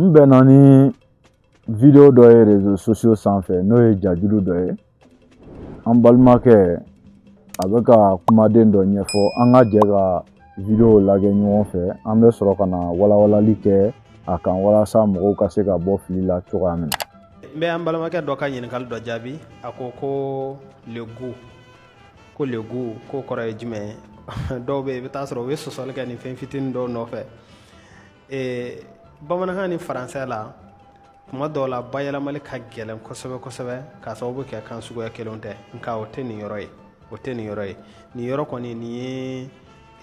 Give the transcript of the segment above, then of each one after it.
n bɛnna ni video dɔ ye réseaux sociaux sanfɛ n'o ye jajulu dɔ ye an balimakɛ a bɛ ka kumaden dɔ ɲɛfɔ an ka jɛ ka video lajɛ ɲɔgɔn fɛ an bɛ sɔrɔ ka na walawalali kɛ a kan walasa mɔgɔw ka se ka bɔ fili la cogoya min na n bɛ an balimakɛ dɔ ka ɲininkali dɔ jaabi a ko ko le goût ko le goût k'o kɔrɔ ye jumɛn ye dɔw bɛ yen i bɛ taa sɔrɔ u bɛ sɔsɔli kɛ nin fɛn fitinin dɔw nɔfɛ ee bamanankan ni faransɛ la tuma dɔw la bayɛlɛmali ka gɛlɛn kosɛbɛ kosɛbɛ k'a sababu kɛ kan suguya kelenw tɛ nka o tɛ nin yɔrɔ ye o tɛ nin yɔrɔ ye nin yɔrɔ kɔni nin ye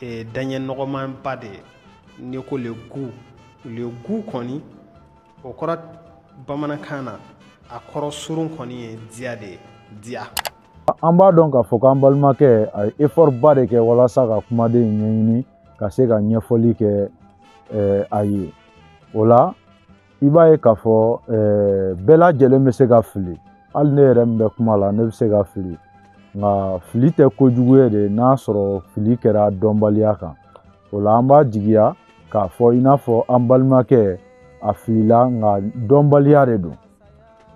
e, daɲɛ nɔgɔmanba de ye n'i ko le goût le goût kɔni o kɔrɔ bamanankan na a kɔrɔ surun kɔni ye diya de ye diya an b'a dɔn k'a fɔ k'an balimakɛ a ye effort ba de kɛ walasa ka kumaden in ɲɛɲini ka se ka ɲɛfɔli kɛ a ye o la i b'a ye k'a fɔ bɛɛ lajɛlen bɛ se ka fili hali ne yɛrɛ min bɛ kuma la ne bɛ se ka fili nka fili tɛ kojugu ye de n'a sɔrɔ fili kɛra dɔnbaliya kan o la an b'a jigiya k'a fɔ i n'a fɔ an balimakɛ a filila nka dɔnbaliya de don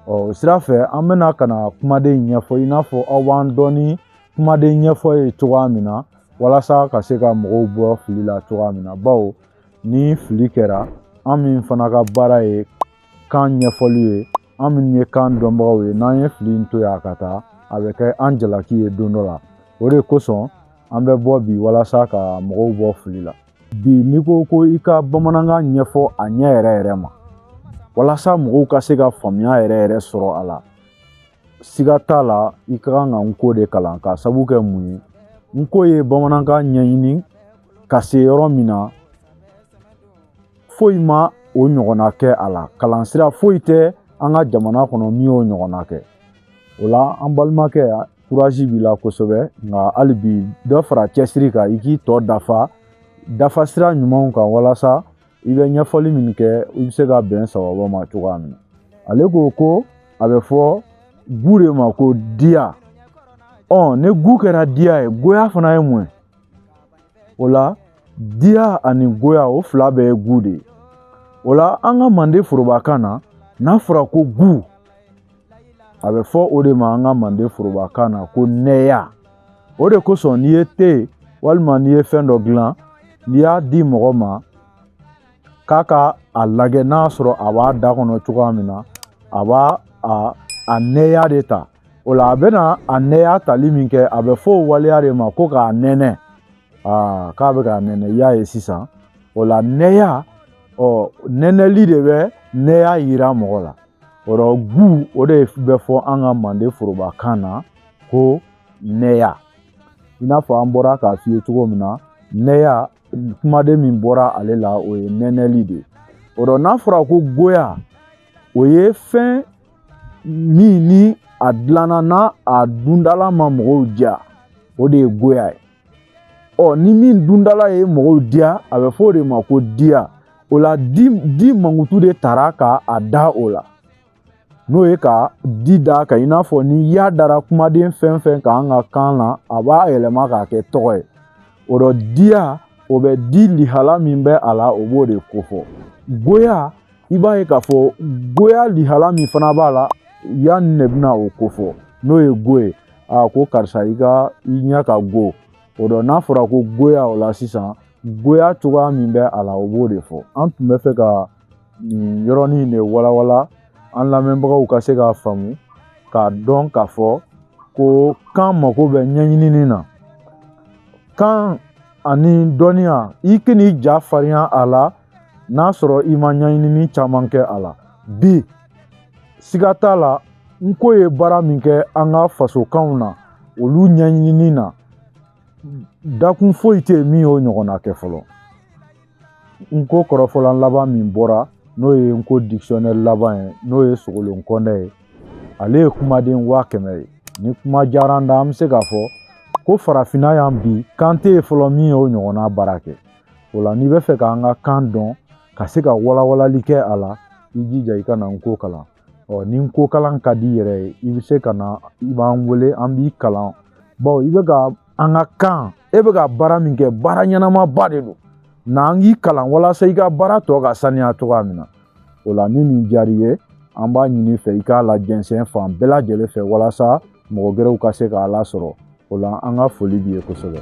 ɔ o sira fɛ an bɛna ka na kumaden ɲɛfɔ i n'a fɔ aw b'an dɔn ni kumaden ɲɛfɔ ye cogoya min na walasa ka se ka mɔgɔw bɔ fili la cogoya min na bawo ni fili kɛra an min fana ka baara ye kan ɲɛfɔli ye an minnu ye kan dɔnbagaw ye n'an ye fili in to yan ka taa a bɛ kɛ an jalaki ye don dɔ la o de kosɔn an bɛ bɔ bi walasa ka mɔgɔw bɔ fili la bi n'i ko ko i ka bamanankan ɲɛfɔ a ɲɛ yɛrɛ yɛrɛ ma walasa mɔgɔw ka se ka faamuya yɛrɛ yɛrɛ sɔrɔ a la siga t'a la i ka kan ka nko de kalan k'a sabu kɛ mun ye nko ye bamanankan ɲɛɲini ka se yɔrɔ min na foyi ma o ɲɔgɔnna kɛ a la kalan sira foyi tɛ an ka jamana kɔnɔ min y'o ɲɔgɔnna kɛ o la an balimakɛ kurazi b'i la kosɛbɛ nka hali bi dɔ fara cɛsiri kan i k'i tɔ dafa dafa sira ɲumanw kan walasa i bɛ ɲɛfɔli min kɛ i bɛ se ka bɛn sababa ma cogoya min na ale ko ko a bɛ fɔ goût de ma ko diya ɔ ni goût kɛra diya ye goya fana ye mun ye o la diya ani goya o fila bɛɛ ye goût de ye o la an ka manden forobakan na n'a fɔra ko goût a bɛ fɔ o de ma an ka manden forobakan na ko nɛya o de kosɔn n'i ye te walima n'i ye fɛn dɔ dilan n'i y'a di mɔgɔ ma k'a ka a lajɛ n'a sɔrɔ a b'a da kɔnɔ cogoya min na a b'a a a nɛya de ta o la a bɛna a nɛya tali min kɛ a bɛ fɔ o waleya de ma ko k'a nɛnɛ aa k'a bɛ k'a nɛnɛ i y'a ye sisan o la nɛya ɔ nɛnɛli de bɛ nɛya yira mɔgɔ la o dɔ goût o de bɛ fɔ an ka manden forobakan na ko nɛya i n'a fɔ an bɔra k'a f'i ye cogo min na nɛya kumaden min bɔra ale la o ye nɛnɛli de ye o dɔ n'a fɔra ko goya o ye fɛn min ni a dilanna n'a a dundala ma mɔgɔw diya o de ye goya ye ɔ ni min dundala ye mɔgɔw diya a bɛ fɔ o de ma ko diya o la di di mankutu de tara ka a da o la n'o ye ka di da ka i n'a fɔ ni ya dara kumaden fɛn fɛn kan an ka kan na a b'a yɛlɛma k'a kɛ tɔgɔ ye o dɔ diya o bɛ di lihala min bɛ a la o b'o de kofɔ goya i b'a ye k'a fɔ goya lihala min fana b'a la ya nin ne bɛna o kofɔ n'o ye go ye a ko karisa i ka i ɲɛ ka go o dɔ n'a fɔra ko goya o la sisan goya cogoya min bɛ a la o b'o de fɔ an tun bɛ fɛ ka nin yɔrɔnin de walawala an lamɛnbagaw ka se k'a faamu k'a dɔn k'a fɔ ko kan mako bɛ ɲɛɲinini na kan ani dɔnniya i kan'i ja farinya a la n'a sɔrɔ i ma ɲɛɲinini caman kɛ a la bi siga t'a la nko ye baara min kɛ an ka fasokanw na olu ɲɛɲinini na dakun foyi tɛ yen min y'o ɲɔgɔnna kɛ fɔlɔ nko kɔrɔfɔlan laban min bɔra n'o ye nko dictionnaire laban ye n'o ye sogolon kɔndɛ ye ale ye kumaden waa kɛmɛ ye ni kuma diyara n da an bɛ se k'a fɔ ko farafinna yan bi kan tɛ yen fɔlɔ min y'o ɲɔgɔnna baara kɛ o la n'i bɛ fɛ k'an ka kan dɔn ka se ka walawalali kɛ a la i jija i ka na nko kalan ɔ ni nko kalan ka di i yɛrɛ ye i bɛ se ka na i b'an wele an b'i kalan bawo i bɛ ka an ka kan e bɛ ka baara min kɛ baara ɲɛnamaba de don na an k'i kalan walasa i ka baara tɔ ka saniya cogoya min na o la ni nin diyar'i ye an b'a ɲini fɛ i k'a lajɛnsɛn fan bɛɛ lajɛlen fɛ walasa mɔgɔ gɛrɛw ka se k'a lasɔrɔ o la an ka foli b'i ye kosɛbɛ